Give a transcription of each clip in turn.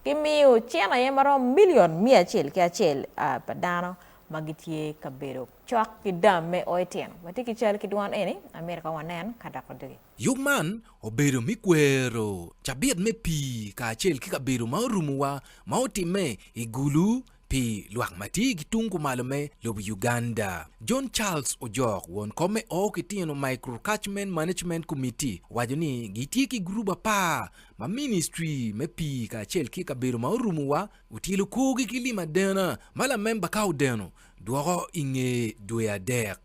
Gimiyo cen aye marom milion miya acel ki acel a pa dano ma gitye ka bedo cok ki dam me o etino. Watye ki cal ki dwon eni, amito ka wanen ka dok wadogi. Yub man obedo me kwero cabit me pii kacel ki kabedo ma orumowa ma otimme i Gulu Pi lwak ma tye ki tung kumalo me lobo Uganda, John Charles Ojok, won kom me Oo Kitino Micro Catchment Management Committee, owaco ni gitye ki gurup apar ma Ministri me Pii kacel ki Kabedo ma Orumo wa otyelo korgi ki lim adena ma lamemba ka odeno dwoko i nge dwe adek.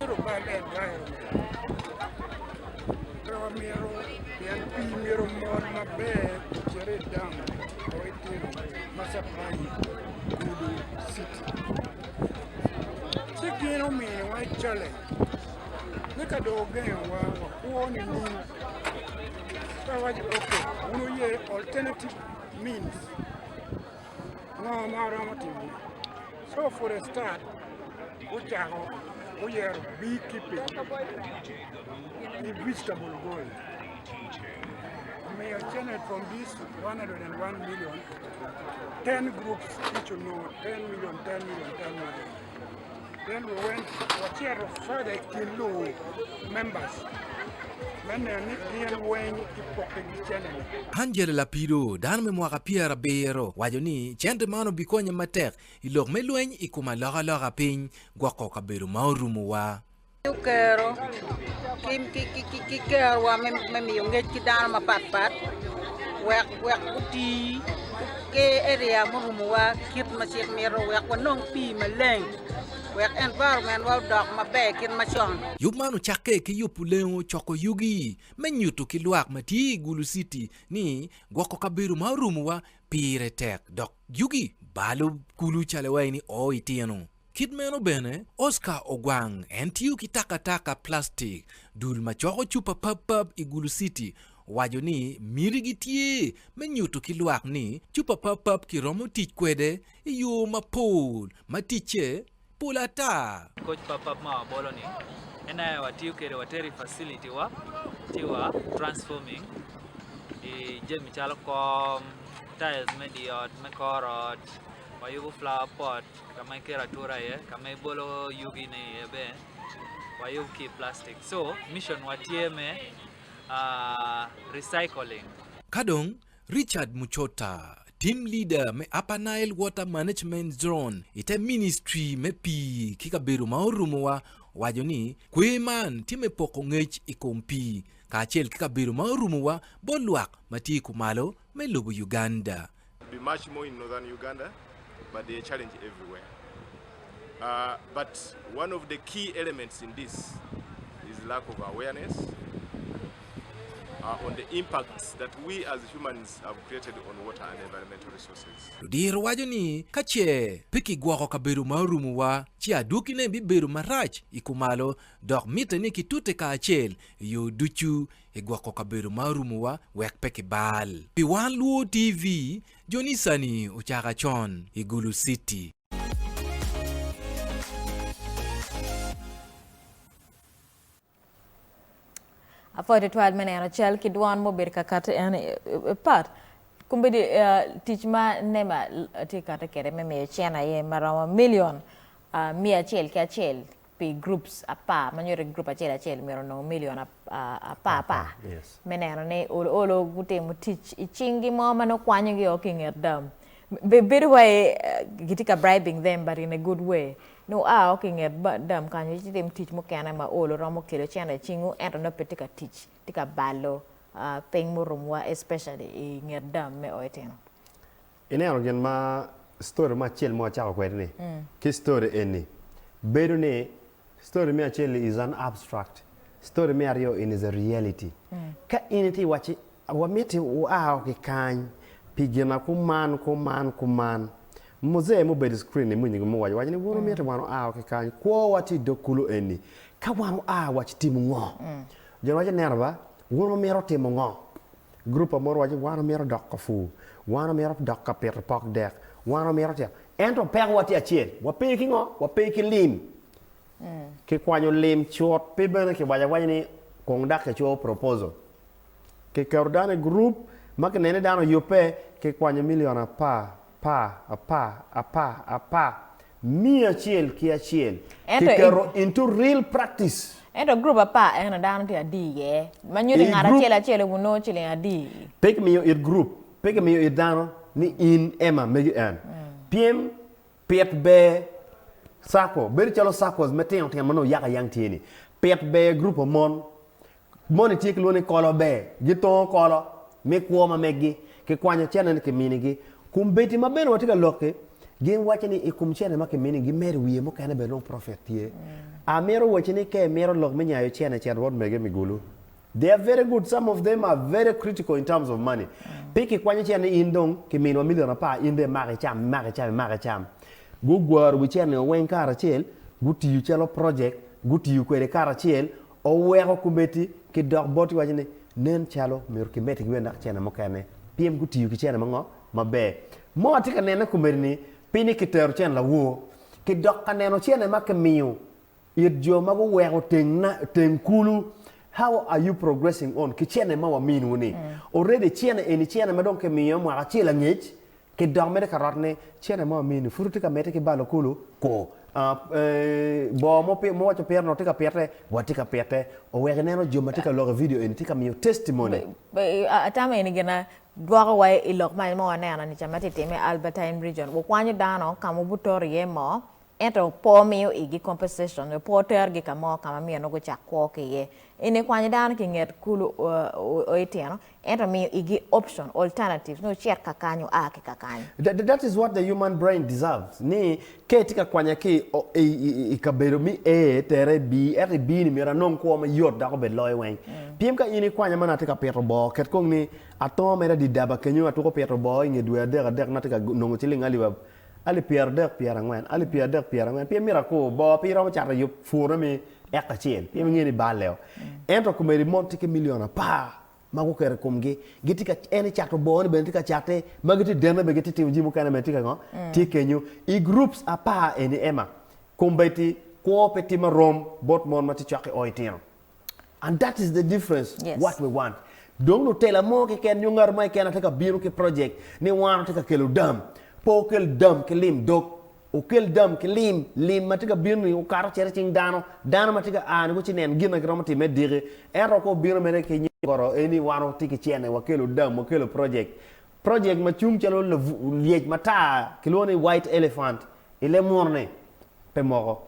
gudo citi. Ci gin omiyowa challenge ni ka dong ogengowa wakwo nining? Ka waco ok, wun wuye alternative means ngo ma waromo timo? So for a start gucako guyero beekeeping ki vegetable growing. omiyo cene from this 101 million 10 groups each will know 10 million 10 million 10 million then we went wacito further kin luwu members me neno ni gin weng kipokegi cene-ni Angela Lapido, dano me mwaka pyera abiro, waco ni cente man obikonye matek i lok me lweny i kom alokaloka piny gwoko kabedo ma orumowa. Kero ki kerowa me miyo ngec ki dano mapat pat wek wek guti ki area murumowa kit ma cik mito wek wanong pii maleng wek environment wa odok maber kit macon. Yub man ocakke ki yubo lengo coko yugi me nyuto ki lwak ma tye i Gulu City ni gwoko kabedo ma orumowa pire tek dok yugi balo kulu calo iwaci ni oo itino. Kit meno bene, Oscar Ogwang, en tiyo ki takataka plastik, dul ma coko cupa papap i Gulu City, owaco ni mitigi tye me nyuto ki lwak ni cupa papap kiromo tic kwede i yo mapol ma ticce pol ata. Koc papap ma wabolo-ni en aye watiyo kwede, watero i facility-wa ci wa transforming i jami calo kom, tiles me dye ot, me kor ot, wayubo flower pot. ka ma iketo atura iye ka ma ibolo yugi ne iye bene wayub ki i plastic so mission wa tye me recycling. Ka dong Richard Muchota, Team Leader me Upper Nile Water Management Zone i te Ministry me Pii ki Kabedo ma Orumo wa owaco ni kwer man tye me poko ngec i kom pii kacel ki kabedo ma orumo wa bot lwak ma tye kumalo me lobo Uganda. Be much more in northern Uganda but there challenge everywhere ahh but one of the key elements in this is lack of awareness ahh on the impacts that we as humans have created on water and environmental resources. Ludiro waco ni ka ce pe kigwoko kabedo ma orumo wa ci adwogi ne bibedo marac i kumalo dok mitte ni kitute kacel i yo ducu I gwoko kabedo ma orumowa wek pe kibal. Pi wan luwo TV, jonicani ocaka con i Gulu City. Apwoyo twatwal me neno cal ki dwon ma obedo ka kati en pat kombedi tic ma nema tye kati kede me miyo cen aye maromo milion miya acel ki acel pi groups apar ma nyuto ni group acel acel myero onong million apar par me neno ni olo olo gutimo tic i cing gi mo ma nongo kwanyo gi o ki nget dam bedo wai gitye ka bribing them but in a good way nongo oa o ki nget dam kany ci timo tic mukene ma olo romo kelo cene i cingu ento nongo pe tye ka tic tye ka balo ping murum wa especially i nget dam me o etino. Ineno gin ma story mo acel mo acako kwede ni, ki story eni, bedo ni story me acel ni is an abstract, story me aryo in is a reality. Ka in itye iwacci wamiti wua o ki kany pi gina kuman kuman kuman, muzee ma obedo i screen ni moni gimo waco waco ni buru miti wan wua o ki kany, kwo wa tye idog kulu eni, ka wan wua waci timo ngo? Jo ni waco neno ba, buru mito timo ngo? Gurup pa mono waco ni wan omito dok ka pur, wan omito dok ka pito pok dek, wan omito tito. Ento pekowa tye acel, wape ki ngo? Wape ki lim. Kikwanyo lim cut pe bene kiwaco awaca ni kong dok kicoyo proposal. Kiketo dano i gurup ma kineno ni dano oyubbe, kikwanyo milion apar, apar, apar, apar, apar. Miyo acel ki acel Ento i. kiketo into real practice. Ento gurup apar eno dano tye adi iye, ma nyuto ni I ngat gurup. acel acel obin nongo ciling adi i. Pe kimiyo it gurup, pe kimiyo it dano ni in ema megi en. Pyem pit ber circle, bedo calo circles me tino tino ma nongo yaka yang tye ni. Pit ber gurup mo mon, Moni tye ki lwongo ni kolo ber, gitongo kolo me kwo ma meggi, kikwanyo cene ni kiminigi. Kombeddi ma bene watye ka lokki, gin waco ni i kom cene ma kiminigi gimedo wiye mukene bene dong profit tye. Amito wacci ni ka imito lok me nyayo cene cen rwot mege mi gulu. They are very good, some of them are very critical in terms of money. Pe kikwanyo cene ni in dong kiminwa million apar in dong imak icam, imak icam, imak icam. Gugwaro wi cene-ni weng karacel, gutiyo calo project, gutiyo kwede karacel, Oweko kometi ki dok bot ki waco ni nen calo myero ki meti ki bene dok cene mukene pien gu tiyo ki cene ma ngo? Ma ber. Mo atye ka nene kometi ni pi ni ki tero cene lawor ki dok ka neno cene ma ki miyo it jo ma gu weko teng na teng kulu how are you progressing on ki cene ma wa miniwu ni? Already cene eni cene ma dong ki miyo mwaka acel angec Ki dok mede ka rot ni cene mo amini pud watye ka mete ki balo kulu ku boo mo ma waco pire ni watye ka pite watye ka pite owek ineno jo ma tye ka lok i video eni tye ka miyo testimony. Atamo eni gin ma gwoko wa i lok mac ma waneno ni ca ma tye ka timme i Albertine Region, wukwanyo dano ka ma wubutoro iye moo Ento pe omiyo igi compensation nyo pe otergi ka mo ka ma myero nongo gucak kwo ki iye. Eni kwanyo dano ki i nget kulu o itino, ento miyo igi option, alternatives, ni ocit ka kany, oa ki ka kany. That is what the human brain deserves, ni ka itye ka kwanya ki i kabedo me A tere i B, ento i B ni myero anong kwo ma yot dok obed loyo weng. Pien ka in ikwanya ma nongo atye ka pito boo, ket kong ni atongo mere adidaba kenyo atuko pito boo i nge dwe adek adek nongo atye ka nongo ciling alip Alip pyeradek pyerangwen, alip pyeradek pyerangwen, pien mito akur boo, pe iromo cato yub pwurone me eka acel, pien ingeyo ni bal leo. Ento komedi mon tye ki milion apar ma guketo i komgi, gitye ka, en ecato boone bene tye ka cate, ma gitye dene bene gitye timo jami mukene bene tye ka ngo, tye kenyo. I groups apar eni Emma, kombeddi kwo pe timo arom bot mon ma tye cwaki oo itino. And that is the difference yes. what we want. Dong lutela mo keken nyo ngat mo keken atye ka bino ki project ni wan atye ka kelo dam. Po okel dam ki lim dog. Okel dam ki lim, lim ma tye ka bino ni okato cere cing dano. Dano ma tye ka a ni ko ci nen gin na giromo timme diki. Ento ko bino mene ki nyo koro eni wan watye ki cene wakelo dam, wakelo project. Project ma cung calo lyec matar kilwongo ni white elephant ile murne pe moko.